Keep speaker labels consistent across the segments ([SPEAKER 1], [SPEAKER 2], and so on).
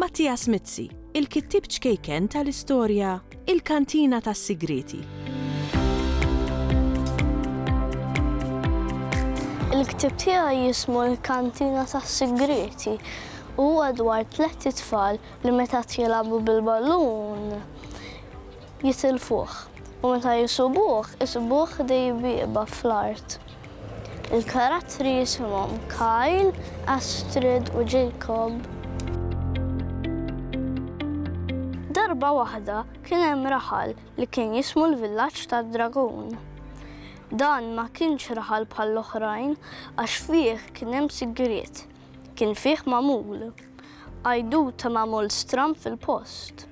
[SPEAKER 1] Mattias Mizzi, il-kittieb ċkejken tal-istorja Il-Kantina tas-Sigrieti.
[SPEAKER 2] Il-ktieb tiegħi jismu Il-Kantina tas-Sigrieti u huwa dwar tliet itfal li meta qed jilagħbu bil-ballun jitilfuh u meta jisubuh isibuh dejjem bieqba fl-art. Il-karattri jisimhom Kyle, Astrid u Jacob. Darba waħda kien hemm raħal li kien jismu l-Villaġġ tad-Dragun. Dan ma kienx raħal bħall-oħrajn għax fih kien hemm sigriet. Kien fih magħmul. Għajduta magħmul stram fil-post.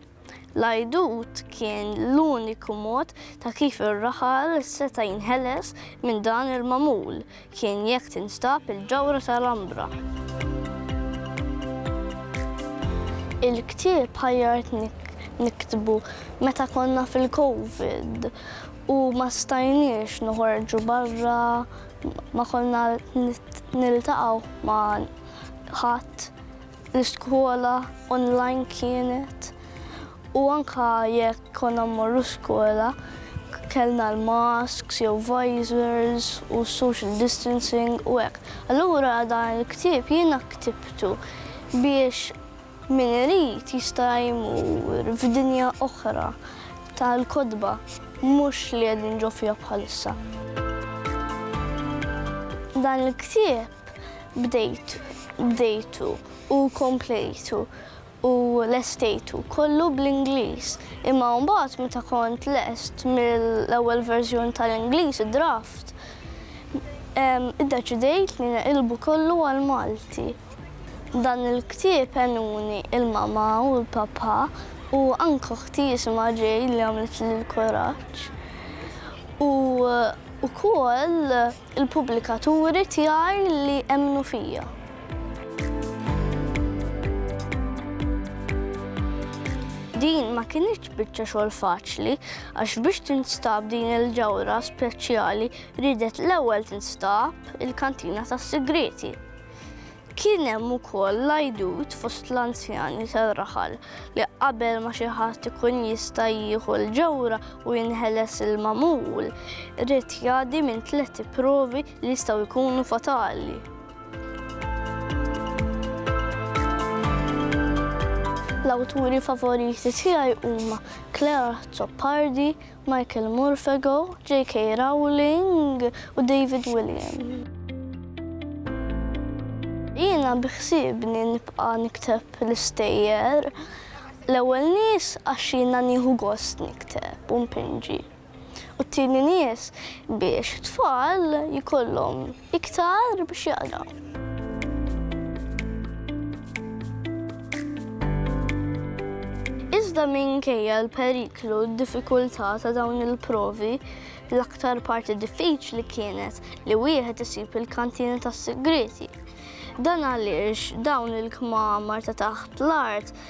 [SPEAKER 2] L-għajdut kien l-uniku mod ta' kif ir-raħal seta' jinħeles minn dan il-magħmul kien jekk tinstab il-ġawhra ta' Lambra. Il-ktieb ħajjart niktbu meta konna fil-Covid u ma stajniex noħorġu barra, ma konna niltaqgħu ma' ħadd. L-iskola online kienet u anka jekk konna mmorru skola kellna l-masks jew visors u social distancing u hekk. Allura dan il-ktieb jiena ktibtu biex min irid jista' jmur f'dinja oħra tal-kotba mhux li qegħdin ġo fiha bħalissa. Dan il-ktieb bdejtu, bdejtu u komplejtu u lestejtu kollu bl-Ingliż. Imma mbagħad meta kont lest mill-ewwel verżjoni tal-Ingliż, id-draft, iddeċidejt li neqilbu kollu għall-Malti. Dan il-ktieb għenuni l-mama u l-papa u anke oħti jisimha Jay li għamlitli l-kuraġġ. U wkoll, Il-pubblikaturi tiegħi li emmnu fija. Din ma kinitx biċċa xogħol faċli għax biex tinstab din il-ġawra speċjali ridet l-ewwel tinstab il-kantina tas-sigrieti. Kien hemm ukoll l-għajdut fost l-anzjani tar-raħal li qabel ma xi ħadd ikun jista' jieħu l-ġawhra u jinħeles il-magħmul, irid jgħaddi minn tliet provi li jistgħu jkunu fatali. L-awturi favoriti tiegħi huma Claire Azzopardi Michael Morphago, JK Rowling u David Williams. Jiena biħsiebni nibqa' nikteb l-istejjer. L-ewwel nies għax jiena nieħu gost nikteb u npinġi. U t-tieni nies biex it-tfal jkollhom Iktar biex jaqraw. Iżda minkejja l-periklu u d-diffikultà ta' dawn il-provi, l-aktar parti diffiċli kienet li wieħed isib il-kantina tas-sigriti. Dan għaliex dawn il-kmamar ta' taħt l-art